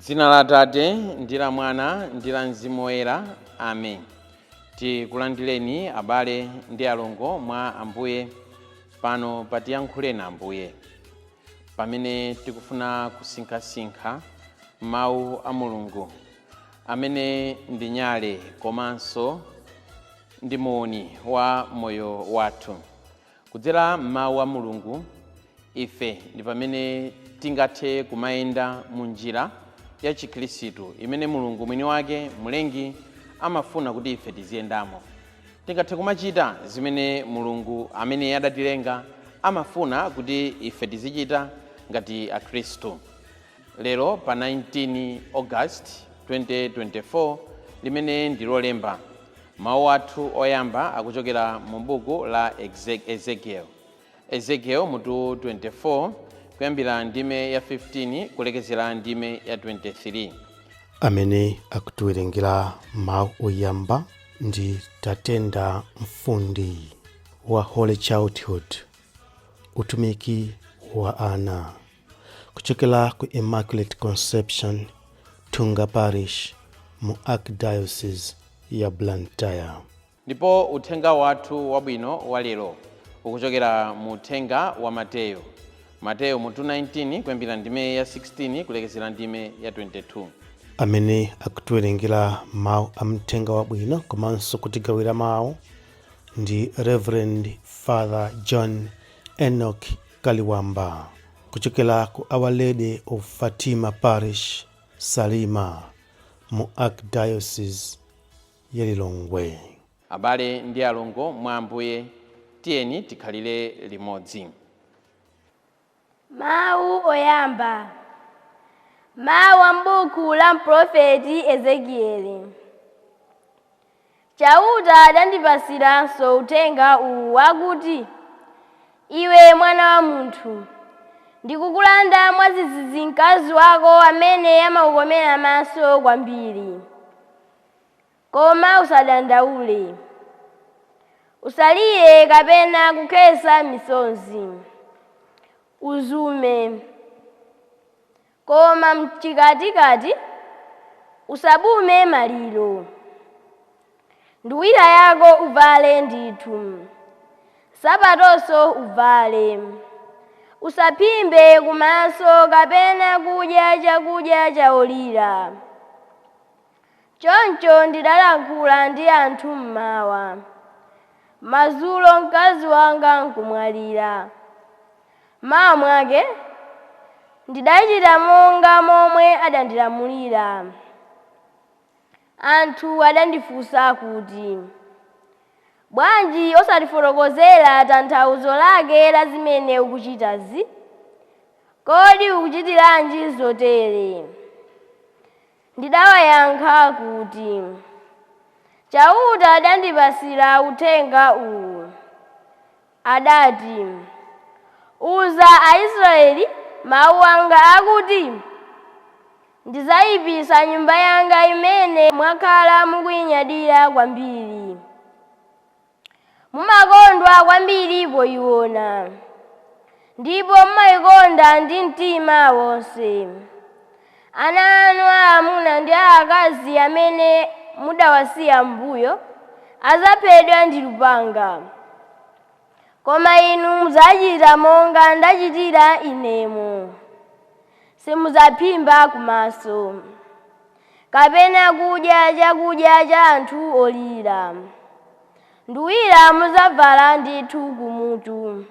dzina la atate ndi la mwana ndi la mzimu woyera amen tikulandireni abale ndi alongo mwa ambuye pano patiyankhuleni ambuye pamene tikufuna kusinkhasinkha mawu a mulungu amene ndi nyale komanso ndi muuni wa moyo wathu kudzera m'mawu a mulungu ife ndi pamene tingathe kumayenda mu njira ya chikhristu imene mulungu mwini wake mlengi amafuna kuti ife tiziyendamo Tingathe kumachita zimene Mulungu amene adatilenga amafuna kuti ife tizichita ngati Akhristu. Lero pa 19 August 2024 limene ndi Lolemba, mawu athu oyamba akuchokera mu buku la Ezekieli. Ezekiel mutu 24 kuyambira ndime ya 15 kulekezera ndime ya 23. amene akutiwerengera mawu oyamba ndi tatenda mfundi wa holy childhood utumiki wa ana kuchokera ku immaculate conception thunga parish mu archdiocese ya blantyre Ndipo uthenga wathu wabwino wa lero ukuchokera mu uthenga wa Mateyo. Mateyo mutu 19 kuyambira ndime ya 16 kulekezera ndime ya 22. Amene akutiwerengera mawu a uthenga wabwino komanso kutigawira mawu ndi Reverend Father John Enoch Kaliwamba kuchokera ku Our Lady of Fatima Parish, Salima mu Archdiocese ya Lilongwe. Abale ndi alongo mwa Ambuye, tiyeni tikhalire limodzi. Mawu Oyamba, Mawu a m'buku la mprofeti Ezekieli. Chauta adandipatsiranso uthenga uwu wakuti, Iwe mwana wa munthu, ndikukulanda mwadzidzidzi mkazi wako amene amakukomera maso kwambiri. Koma usadandaule. Usalire kapena kukhetsa misozi. Uzume. Koma m'chikatikati usabume maliro. Nduwira yako uvale ndithu, nsapatonso uvale. Usaphimbe kumaso kapena kudya chakudya chaolira. Choncho ndidalankhula ndi anthu m'mawa. Madzulo mkazi wanga nkumwalira. M'mawa mwake ndidachita monga momwe adandilamulira. Anthu adandifunsa kuti, Bwanji osatifotokozera tanthauzo lake la zimene ukuchitazi? Kodi ukuchitiranji zotere? Ndidawayankha kuti, Chauta adandipatsira uthenga uwu, adati, Uza Aisraele mau anga akuti, Ndidzaipitsa Nyumba yanga imene mwakhala mukuinyadira kwambiri. Mumakondwa kwambiri poiona ndipo mumaikonda ndi mtima wonse. Ana anu aamuna ndi aakazi amene mudawasiya m'mbuyo adzaphedwa ndi lupanga. Koma inu mudzachita monga ndachitira inemu. Simudzaphimba kumaso. kapena kudya chakudya cha anthu olira. Nduwira mudzavala ndithu kumutu,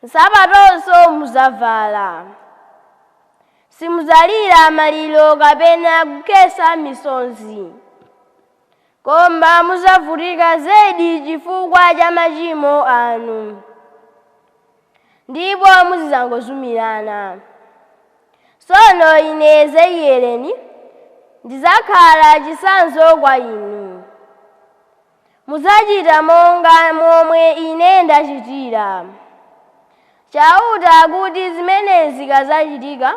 nsapatonso mudzavala. Simudzalira maliro kapena kukhetsa misozi. Koma mudzavutika zedi chifukwa cha machimo anu, ndipo muzidzangozumirana. Tsono ine Ezekiyelene ndidzakhala chitsanzo kwa inu. Mudzachita monga momwe ine ndachitira. Chauta akuti zimenezi zikadzachitika,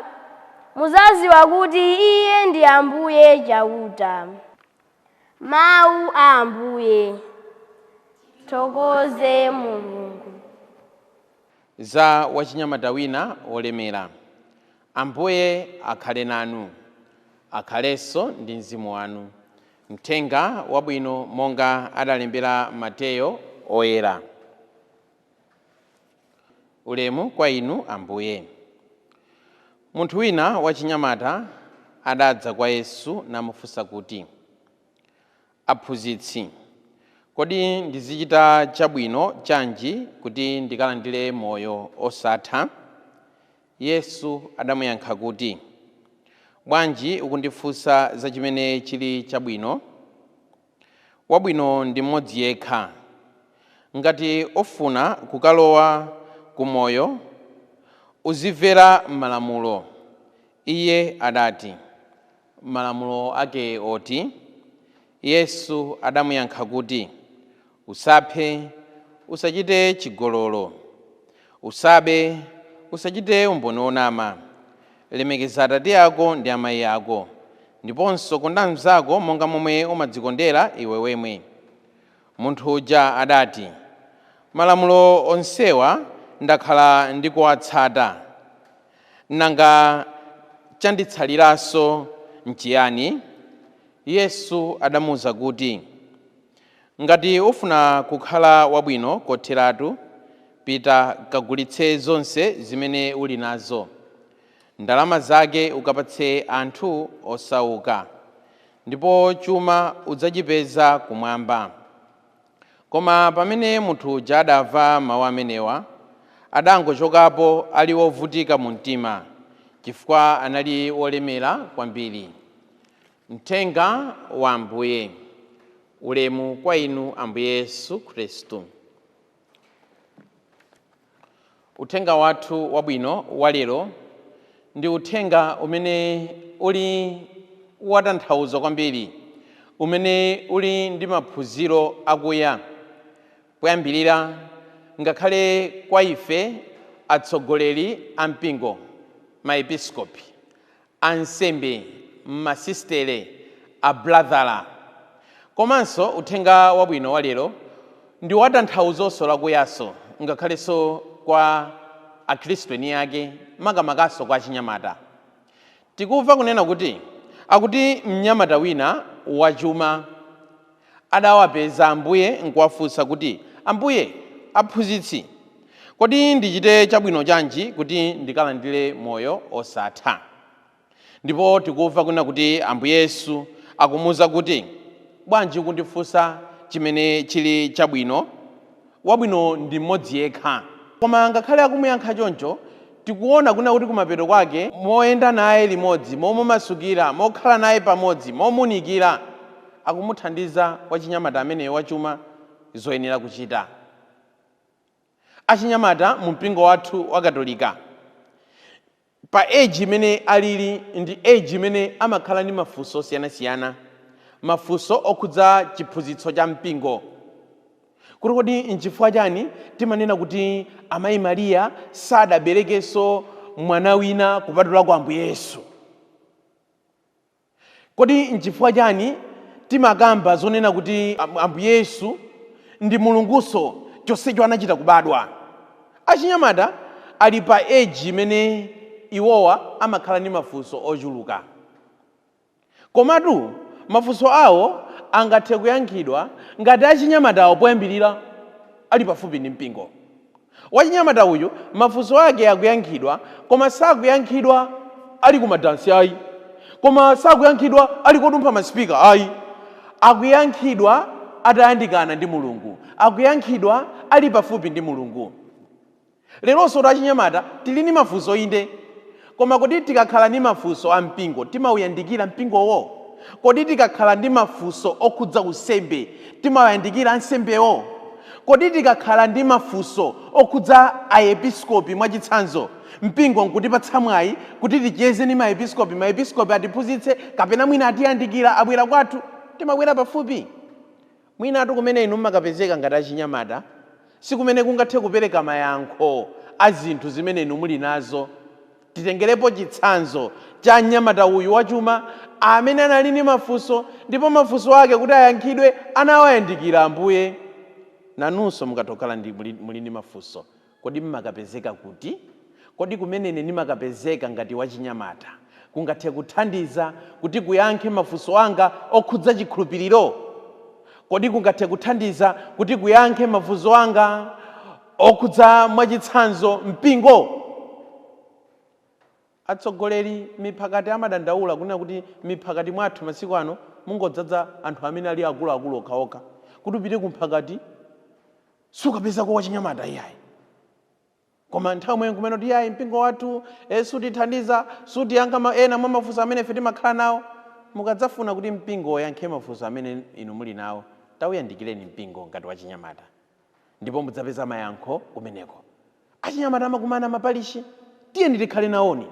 mudzadziwa kuti Iye ndi Ambuye Chauta. Mau a Ambuye. Tithokoze Mulungu. Za wachinyamata wina wolemera. Ambuye akhale nanu. Akhalenso ndi mzimu wanu. Mthenga Wabwino monga adalembera Mateyo Oyera. Ulemu kwa Inu, Ambuye. Munthu wina wachinyamata adadza kwa Yesu namufunsa kuti, Aphunzitsi, kodi ndizichita chabwino chanji kuti ndikalandire moyo osatha? Yesu adamuyankha kuti, Bwanji ukundifunsa za chimene chili chabwino? wabwino ndi m'modzi yekha. Ngati ufuna kukalowa ku moyo, uzimvera malamulo. Iye adati, Malamulo ake oti? Yesu adamuyankha kuti, Usaphe, usachite chigololo, Usabe, Usachite umboni wonama. Lemekeza atate ako ndi amayi ako. Ndiponso konda mnzako monga momwe umadzikondera iwe wemwe. Munthu uja adati, Malamulo onsewa ndakhala ndikuwatsata. Nanga chanditsaliranso nchiyani? Yesu adamuuza kuti, Ngati ufuna kukhala wabwino kotheratu, pita kagulitse zonse zimene uli nazo. Ndalama zake ukapatse anthu osauka, ndipo chuma udzachipeza kumwamba. Koma pamene munthu uja adamva mau amenewa, adangochokapo ali wovutika mu mtima, chifukwa anali wolemera kwambiri. Mthenga wa Ambuye. Ulemu kwa Inu, Ambuye Yesu Khristu. Uthenga wathu wabwino wa lero ndi uthenga umene uli watanthauzo kwambiri, umene uli ndi maphunziro akuya poyambirira ngakhale kwa ife atsogoleri a mpingo, maepiskopi, ansembe, masisitere, abulazala. Komanso uthenga wabwino wa lero ndi watanthawuzonso lakuyanso ngakhalenso kwa akhristu eni ake makamakanso kwa achinyamata. Tikumva kunena kuti akuti mnyamata wina wachuma adawapeza Ambuye nkuwafunsa kuti, Ambuye, Aphunzitsi, kodi ndichite chabwino chanji kuti ndikalandire moyo osatha? Ndipo tikumva kunena kuti Ambuye Yesu akumuuza kuti, Bwanji ukundifunsa chimene chili chabwino? wabwino ndi m'modzi yekha. Koma ngakhale akumuyankha choncho, tikuona kunena kuti kumapeto kwake, moyenda naye limodzi, momumasukira, mokhala naye pamodzi, momunikira, akumuthandiza wachinyamata ameneyo wachuma zoyenera kuchita. Achinyamata mu mpingo wathu wa Katolika, pa age imene alili ndi age imene amakhala ndi mafunso osiyanasiyana, mafunso okhudza chiphunzitso cha mpingo, kuti kodi nchifukwa chani timanena kuti amayi Maria sadaberekenso mwana wina kupatula kwa Ambuye Yesu? Kodi n'chifukwa chiani timakamba zonena kuti Ambuye Yesu ndi Mulungunso chonsecho anachita kubadwa? Achinyamata ali pa age imene iwowa amakhala ndi mafunso ochuluka. Komatu mafunso awo angathe kuyankhidwa ngati achinyamatawo poyambirira ali pafupi ndi mpingo. Wachinyamata uyu mafunso ake akuyankhidwa koma sakuyankhidwa ali ku madansi ayi, koma sakuyankhidwa ali kodumpha ma speaker ayi, akuyankhidwa atayandikana ndi Mulungu, akuyankhidwa ali pafupi ndi Mulungu. Leronso achinyamata tili ndi mafunso inde, Koma kodi tikakhala ndi mafunso a mpingo timauyandikira mpingowo? Kodi tikakhala ndi mafunso okhudza unsembe timawayandikira ansembewo? Kodi tikakhala ndi mafunso okhudza Aepiskopi mwachitsanzo, mpingo nkutipatsa mwayi kuti ticheze ndi Maepiskopi, Maepiskopi atiphunzitse kapena mwina atiyandikira abwera kwathu, timabwera pafupi? Mwinatu kumene inu mumakapezeka ngati achinyamata si kumene kungathe kupereka mayankho a zinthu zimene inu muli nazo. Titengerepo chitsanzo cha mnyamata uyu wachuma amene anali ndi mafunso ndipo mafunso ake kuti ayankhidwe anawayandikira Ambuye. Nanunso mukatha kukhala ndi, muli ndi mafunso. Kodi m'makapezeka kuti? Kodi kumene ine ndimakapezeka ngati wachinyamata kungathe kuthandiza kuti kuyankhe mafunso anga okhudza chikhulupiriro? Kodi kungathe kuthandiza kuti kuyankhe mafunzo anga okhudza mwachitsanzo mpingo? Atsogoleri miphakati amadandaula kunena kuti miphakati mwathu masiku ano mungodzaza anthu amene ali akuluakulu okhaokha. Kuti upite kumphakati sukapezako wachinyamata iyayi koma nthawi yomwe nkumanena kuti yayi mpingo wathu e, sutithandiza sutiyankha ma- ena mwa mafunso amene ife timakhala nawo mukadzafuna kuti mpingo uyankhe mafunso amene inu muli nawo tauyandikireni mpingo ngati wachinyamata ndipo mudzapeza mayankho kumeneko achinyamata amakumana mapalishi tiyeni tikhale nawoni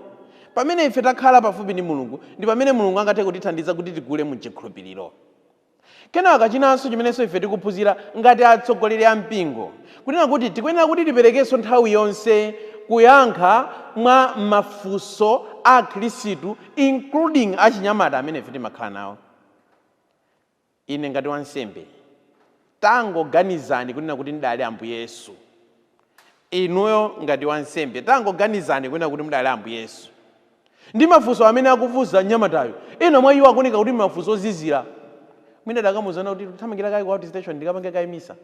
pamene ife takhala pafupi ndi mulungu ndi pamene mulungu angathe kutithandiza kuti tikule mu chikhulupiriro Kenaka chinanso chimenenso ife tikuphunzira ngati atsogoleri a mpingo, kunena kuti tikuyenera kuti tiperekenso nthawi yonse kuyankha kwa mafunso a Akhristu including achinyamata amene ife timakhala nawo. Ine ngati wansembe, tangoganizani kunena kuti ndidali Ambuye Yesu. Inuyo ngati wansembe, tangoganizani kunena kuti mudali Ambuye Yesu. Ndi mafunso amene akufunsa mnyamatayo, ena mwa iwo akuoneka kuti mafunso ozizira. Mwina mudakamuuza kuti, Ndikuthamangira kaye ku outstation ndikapange kaye misa.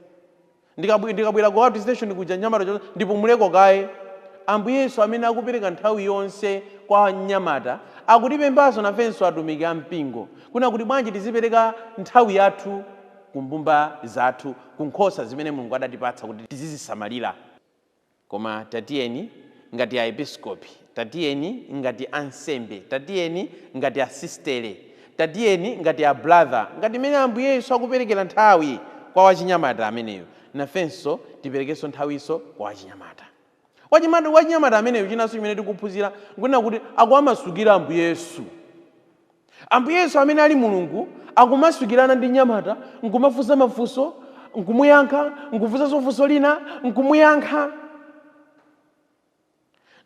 Ndikabwera ku outstation kuja mnyamata ndipumuleko kaye. Ambuye Yesu amene akupereka nthawi yonse kwa mnyamata akutipemphanso nafenso atumiki a mpingo kunena kuti bwanji tizipereka nthawi yathu ku mbumba zathu, ku nkhosa zimene Mulungu adatipatsa kuti tizizisamalira. Koma tatiyeni, ngati Aepiskopi, tatiyeni, ngati ansembe, tatiyeni, ngati asistere, tatiyeni, ngati a brother, ngati mmene Ambuye Yesu akuperekera nthawi kwa wachinyamata ameneyo, nafenso tiperekenso nthawinso kwa wachinyamata. Wachinyamata ameneyo, chinanso chimene tikuphunzira nkunena kuti akuwamasukira Ambuye Yesu. Ambuye Yesu amene ali Mulungu akumasukirana ndi mnyamata nkumafunsa mafunso nkumuyankha, nkufunsanso funso lina nkumuyankha.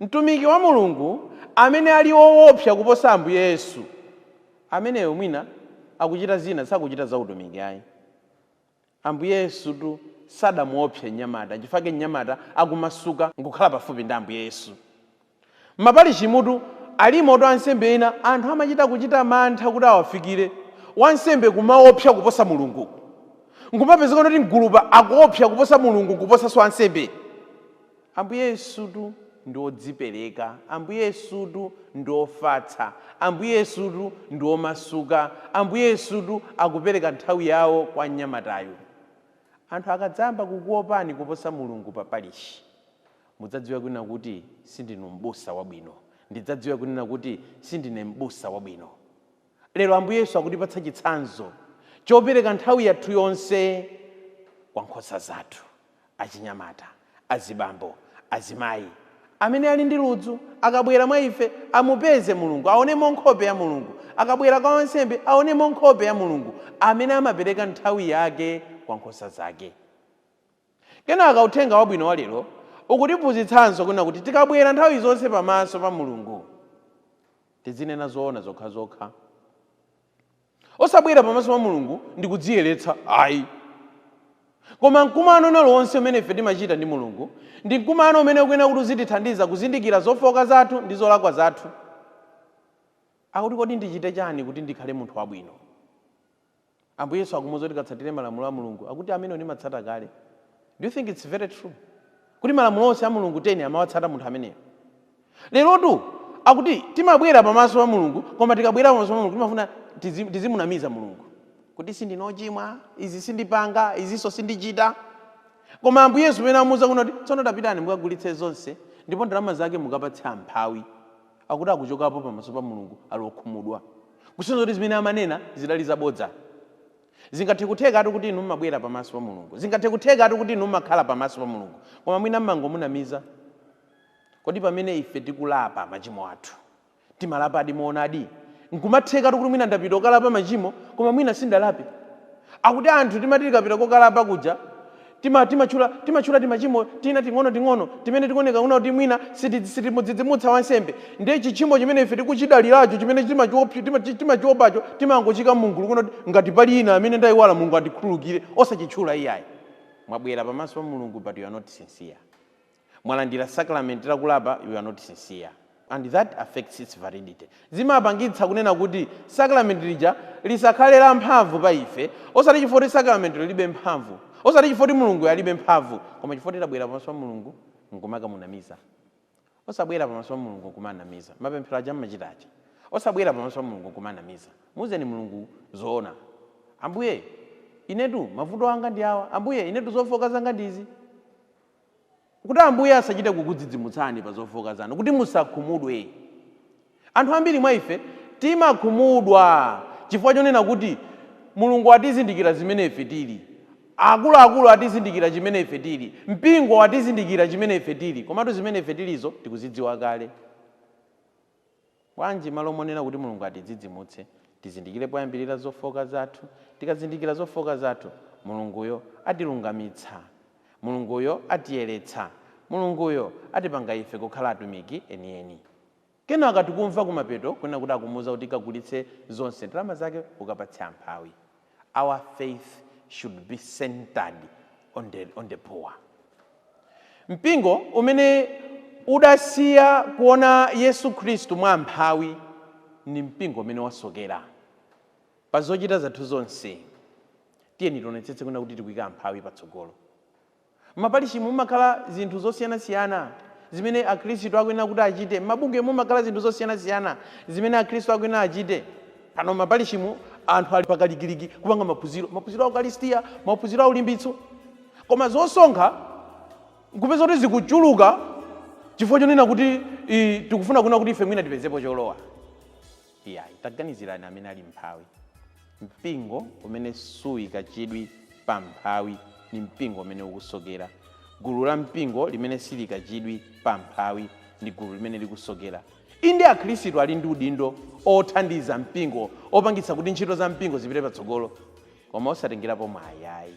Mtumiki wa Mulungu amene ali woopsa kuposa Ambuye Yesu ameneyo mwina akuchita zina, sakuchita za utumiki ayi. Ambuye Yesutu sadamuopse mnyamata, nchifukwa chake mnyamata akumasuka nkukhala pafupi ndi Ambuye Yesu. M'maparishimutu, alimotu ansembe ena anthu amachita kuchita mantha kuti awafikire. Wansembe kumaopsa kuposa Mulungu. Nkumapezeka kuti mgulupa akuopsa kuposa Mulungu nkuposanso ansembe. Ambuye Yesutu ndi wodzipereka, Ambuye Yesutu ndi wofatsa, Ambuye Yesutu ndi womasuka, Ambuye Yesutu akupereka nthawi yawo kwa mnyamatayo. Anthu akadzayamba kukuopani kuposa Mulungu pa parishi, mudzadziwe kunena kuti, Sindinu m'busa wabwino. Ndidzadziwe kunena kuti, Sindine m'busa wabwino. Lero Ambuye Yesu akutipatsa chitsanzo chopereka nthawi yathu yonse kwa nkhosa zathu, achinyamata, azibambo, azimayi, amene ali ndi ludzu, akabwera mwa ife, amupeze Mulungu, aonemo nkhope ya Mulungu, akabwera kwa wansembe, aonemo nkhope ya Mulungu, amene amapereka nthawi yake kwa nkhosa zake. Kenaka Uthenga Wabwino wa lero ukutiphunzitsanso kunena kuti tikabwera nthawi zonse pamaso pa Mulungu, Tizinena zoona zokhazokha. Osabwera pamaso pa Mulungu ndi kudziyeretsa ayi. Koma mkumano wina uliwonse umene ife timachita ndi Mulungu ndi mkumano umene ukuyenera kuti uzitithandiza kuzindikira zofooka zathu ndi zolakwa zathu. Akuti kodi ndichite chani kuti ndikhale munthu wabwino? Ambuye Yesu akumuuza kuti katsatire malamulo a Mulungu akuti amenewo ndimatsata kale. Do you think it's very true kuti malamulo onse a Mulungu 10 amawatsata munthu ameneyo? Lerotu akuti timabwera pamaso pa Mulungu koma tikabwera pamaso pa Mulungu timafuna tizi, tizimunamiza Mulungu kuti sindine ochimwa, izi sindipanga, izinso sindichita. Koma Ambuye Yesu pamene amuuza kuno kuti tsono tapitani mukagulitse zonse ndipo ndalama zake mukapatse amphawi. akuti akuchokapo pamaso pa Mulungu ali okhumudwa. Kusonyeza kuti zimene amanena zidali zabodza. Zingathekuthekatu kuti inu mmabwera pamaso pa Mulungu. Zingathekuthekatu kuti inu mmakhala pamaso pa Mulungu. Koma mwina mmangomunamiza. Kodi pamene ife tikulapa machimo athu, timalapadi moonadi? Nkumathekatu kuti mwina ndapita kokalapa machimo, koma mwina sindalape. Akuti anthu timati tikapita kokalapa kuja, Tima, timatchula, timatchula timachimo tina ting'onoting'ono timene tikuoneka kunena kuti mwina siti, sitimudzidzimutsa wansembe. Ndiye chitchimo chimene ife tikuchidaliracho, chimene timachiopsa, tima, ti- timachiwopacho, timangochiika mumgulu kunena kuti ngati pali ina amene ndayiwala Mulungu andikhululukire, osachitchula iyayi. Mwabwera pamaso pa Mulungu but you are not sincere. mwalandira sacrament la kulapa you are not sincere and that affects its validity zimapangitsa kunena kuti sacrament lija lisakhale la mphamvu pa ife osati chifukwa kuti sacrament lilibe mphamvu osati chifukwa kuti mulungu alibe mphamvu koma chifukwa kuti tabwera pamaso pa mulungu nkumamunamiza osabwera pamaso pa mulungu nkumanamiza mapemphero aja mmachita aja osabwera pamaso pa mulungu nkumanamiza muuzeni mulungu zoona ambuye inetu mavuto anga ndi awa ambuye inetu zofooka zanga ndizi kuti Ambuye asachite kukudzidzimutsani pa zofooka zanu, kuti musakhumudwe. Anthu ambiri mwa ife timakhumudwa chifukwa chonena kuti, Mulungu atizindikira zimene ife tili, akuluakulu atizindikira chimene ife tili, mpingo watizindikira chimene ife tili, komatu zimene ife tilizo tikuzidziwa kale. Bwanji, m'malo monena kuti Mulungu atidzidzimutse, tizindikire poyambirira zofooka zathu? Tikazindikira zofooka zathu, Mulunguyo atilungamitsa. Mulunguyo atiyeretsa. Mulunguyo atipanga ife kukhala atumiki enieni. Kenaka tikumva kumapeto kunena kuti akumuuza kuti kagulitse zonse, ndalama zake ukapatse amphawi. Our faith should be centered on the, on the poor. Mpingo umene udasiya kuona Yesu Khristu mwa amphawi ni mpingo umene wasokera pa zochita zathu zonse. Tiyeni tionetsetse kunena kuti tikuika amphawi patsogolo. M'maparishimu mumakhala zinthu zosiyanasiyana zimene akhristu akuyenera kuti achite. M'mabungwemu mumakhala zinthu zosiyanasiyana zimene akhristu akuyenera achite. Pano m'maparishimu anthu ali pakalikiliki kupanga maphunziro, maphunziro a ukaristia, maphunziro a ulimbitso. Koma zosonkha nkupeza kuti zikuchuluka chifukwa chonena kuti, ii, tikufuna kunena kuti ife mwina tipezepo cholowa. Iyayi. Taganizirani amene ali mphawi. Mpingo umene suika chidwi pa mphawi ndi mpingo umene ukusokera. Gulu la mpingo limene siliika chidwi pa mphawi ndi gulu limene likusokera. Inde, Akhristu ali ndi udindo othandiza mpingo, opangitsa kuti ntchito za mpingo zipite patsogolo, koma osatengerapo mwayi ayi.